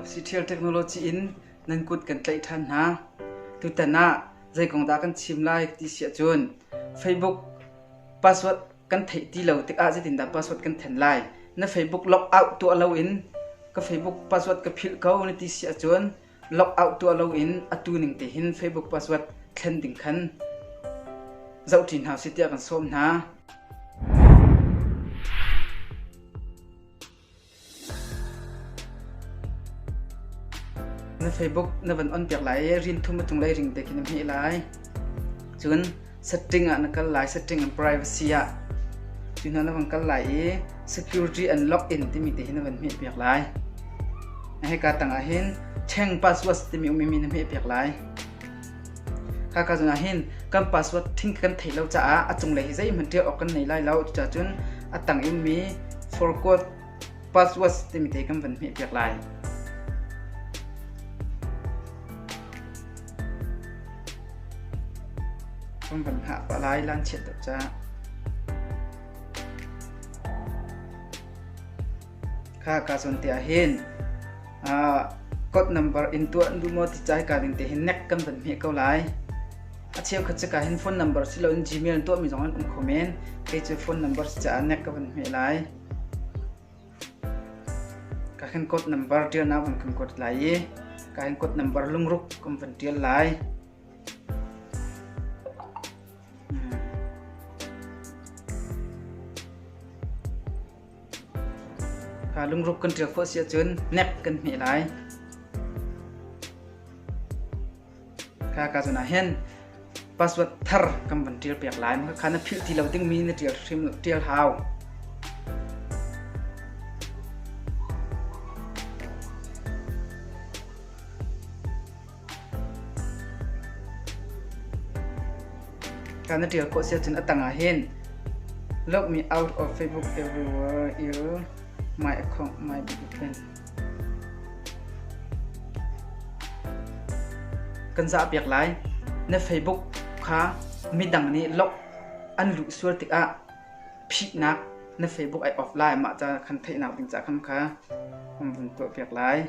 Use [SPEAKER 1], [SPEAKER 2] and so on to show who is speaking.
[SPEAKER 1] Siṭhial technology in nan kut kan tlaih ṭhan hna. Tutan ah zei kong dah kan chim lai ti si ahcun Facebook password kan theih ti lo tikah zeitindah password kan then lai? Na Facebook logout tuah loin ka Facebook password ka philh ko na ti si ahcun logout tuah loin atu ning tehin Facebook password thlen ding khan zoh ṭi hna usih tiah kan sawm hna. Na Facebook na van on piak lai i rin thum a cunglei ring te khi na hmeh lai. Cun setting ah na kal lai setting and privacy ah cu hna na van kal lai i security and login timi te hi na van hmeh piak lai. Na heka tang ah hin cheng password timi umimi na hmeh piak lai. Khaka zongah hin kan password thing kan theih lo caah a cunglei hi zeihmanh ṭial awk kan nei lai lo. Cuticun a tang inmi forgot passwords timi te kan van hmehpiak lai. Kan van hah pah lai lanchiat deuh caah. Kha ka cun te ah hin uh, code number in tuah an duh maw ti ca hika ding te hin nek kan van hme ko lai. A cheu khat cika hin phone number si loin Gmail tuah mi zong an um kho men. Kei cu phone number si caah nek ka van hme lai. Ka hin code number tial na van kan code lai i ka hin code number lungruk kan van tial lai. Hmm. Kha lungruk kan ṭial khawh si ahcun nep kan hmeh lai. Kha ka zun ah hin password thar kan van ṭial piak lai. Maka kha na philh ti lo dingmi na ṭial hrim ṭial hau. Kan na tial khawh sia cun a tang ah hin look me out of Facebook everywhere il my account my button. Kan za piak lai na Facebook kha midang nih lok an lu sual tik ah phihnak na Facebook ai off lai mah ca kan theihnak ding ca kham kha kan vun tuah piak lai.